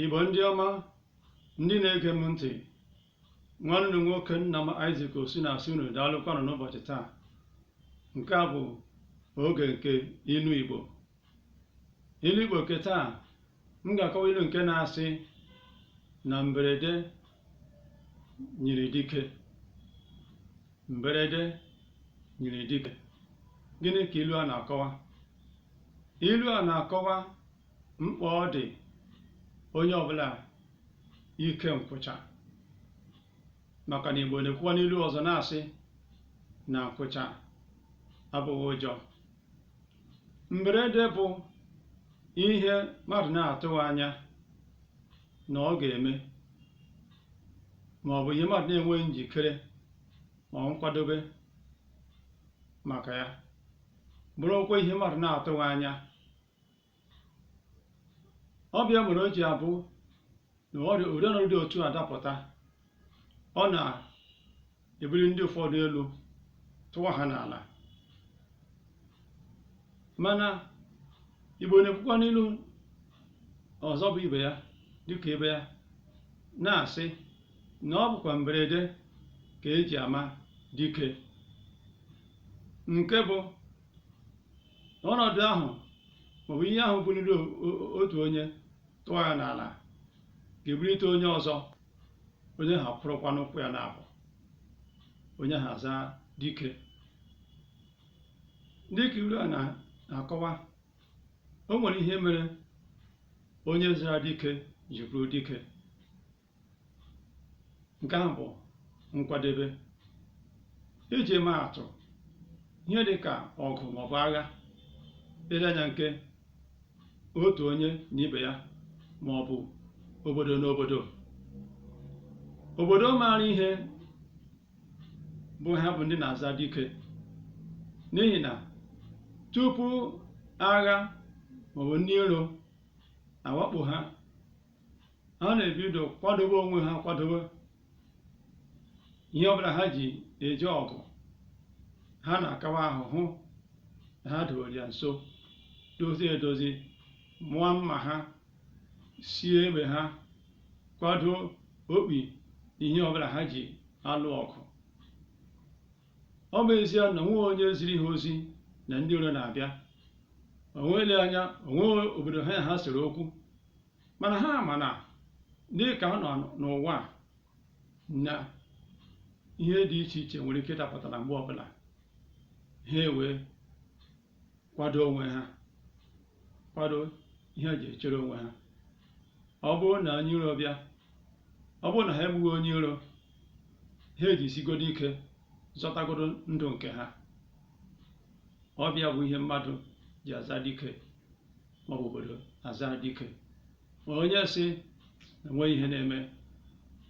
Igbo ndị ọma ndị na-ege m ntị nwanne nwoke nna m Isaac Osu na-asị unu daalụkwanụ n'ụbọchị taa nke a bụ oge nke ilu Igbo ilu Igbo nke taa m ga-akọwa ilu nke na-asị na mberede nyiri dike mberede nyiri dike gịnị ka ilu a na-akọwa ilu a na-akọwa mkpa ọ dị onye ọbụla ike nkwụcha maka na Igbo na-ekwukwa n'ilu ọzọ na-asị na nkwụcha abụghị ụjọ mberede bụ ihe mmadụ na-atụghị anya na ọ ga-eme ma ọ bụ ihe mmadụ na-enweghị njikere ma ọ nkwadobe maka ya bụrụkwa ihe mmadụ na-atụghị anya ọ bụ ya mere o ji abụ na ụdị ọnọdụ dị otu a dapụta ọ na-ebuli ndị ụfọdụ elu tụwa ha n'ala mana Igbo na-ekwukwa n'ilu ọzọ bụ ibe ya dịka ibe ya na-asị na ọ bụkwa mberede ka e ji ama dike nke bụ ọnọdụ ahụ maọbụ ihe ahụ buliri o- o- otu onye tụwa ya n'ala ga-ebulite onye ọzọ onye ahụ akwụrụkwa n'ụkwụ ya naabọ onye ahụ azaa dike dị ka ilu a na- na-akọwa o nwere ihe mere onye zara dike ji bụrụ dike nke ahụ bụ nkwadebe iji maa atụ ihe dị ka ọgụ maọbụ agha ele anya nke otu onye na ibe ya maọbụ obodo na obodo obodo maara ihe bụ ha bụ ndị na-aza dike n'ihi na tupu agha maọbụ ndị iro awakpo ha ha na-ebido kwadobe onwe ha kwadobe ihe ọbụla ha ji eje ọgụ ha na-akawa ahụ hụ na ha dowere ya nso dozie edozi mụọ mma ha sie egbe ha kwado okpi ihe ọbụla ha ji alụ ọgụ ọ bụ ezie na o nweghị onye ziri ha ozi na ndị iro na-abịa o nwee ele anya o nwee obodo ha na ha sere okwu mana ha ma na dịka a nọ n'ụwa a, na ihe dị iche iche nwere ike ịdapụta na mgbe ọbụla ha ewee kwado onwe ha kwado ihe eji echere onwe ha ọ bụrụ na onye iro bịa ọ bụrụ na ha egbughị onye iro ha ejisigodo ike zọtagodo ndụ nke ha ọ bụ ya bụ ihe mmadụ ji aza dike maọbụ obodo aza dike ma onye sị na enweghị ihe na-eme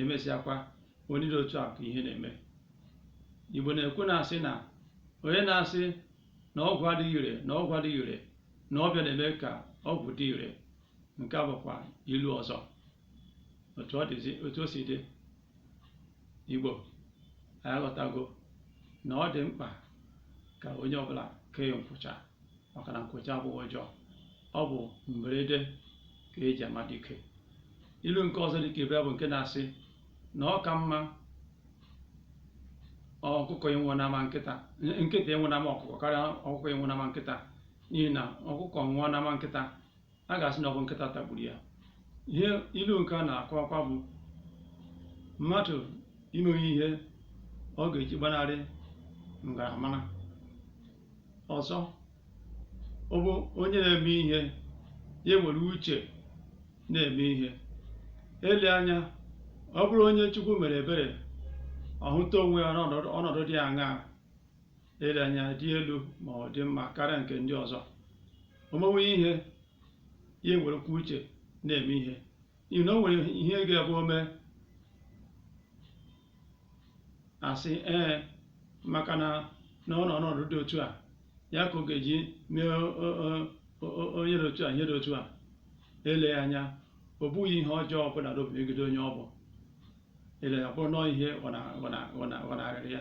emesịakwa onye dị otu a ka ihe na-eme igbo na-ekwu na-asị na onye na-asị na ọgwụ adịghị ire na ọgwụ adịghị ire na ọ bụ ya na-eme ka ọgwụ dị ire nke a bụkwa ilu ọzọ otu o si dị igbo anyị aghọtago na ọ dị mkpa ka onye ọbụla kee nkwụcha maka na nkwụcha abụghị ụjọ ọ bụ mberede ka eji ama dike ilu nke ọzọ dịka ibe bụ nke na-asị na ọ ka mma ọkụkọ ịnwụ n'ama nkịta nkịta ịnwụ n'ama ọkụkọ karịa ọkụkọ ịnwụ n'ama nkịta n'ihi na ọkụkọ nwụọ n'ama nkịta a ga-asị na ọ bụ nkịta tagburu ya ihe ilu nke a na-akọwakwa bụ mmadụ imewe ihe ọ ga-eji gbanarị ngaramara ọzọ bụ onye na-eme ihe ya were uche na-eme ihe eleghị anya ọ bụrụ onye Chukwu mere ebere ọ hụta onwe ya n'ọnọdụ dị aṅaa eleghị anya dị elu ma ọ dị mma karịa nke ndị ọzọ o mewe ihe ya ewerekwa uche na-eme ihe n'ihi na o nwere ihe ga-abụ o mee a sị ee maka na na ọ nọ n'ọnọdụ dị otu a ya ka ọ ga-eji mee onye dị otu a ihe dị otu a eleghị anya o bughị ihe ọjọọ ọbụla n'obi megide onye ọ bụ eleghị anya ọ bụrụ nọọ ihe ghọnahịrị ya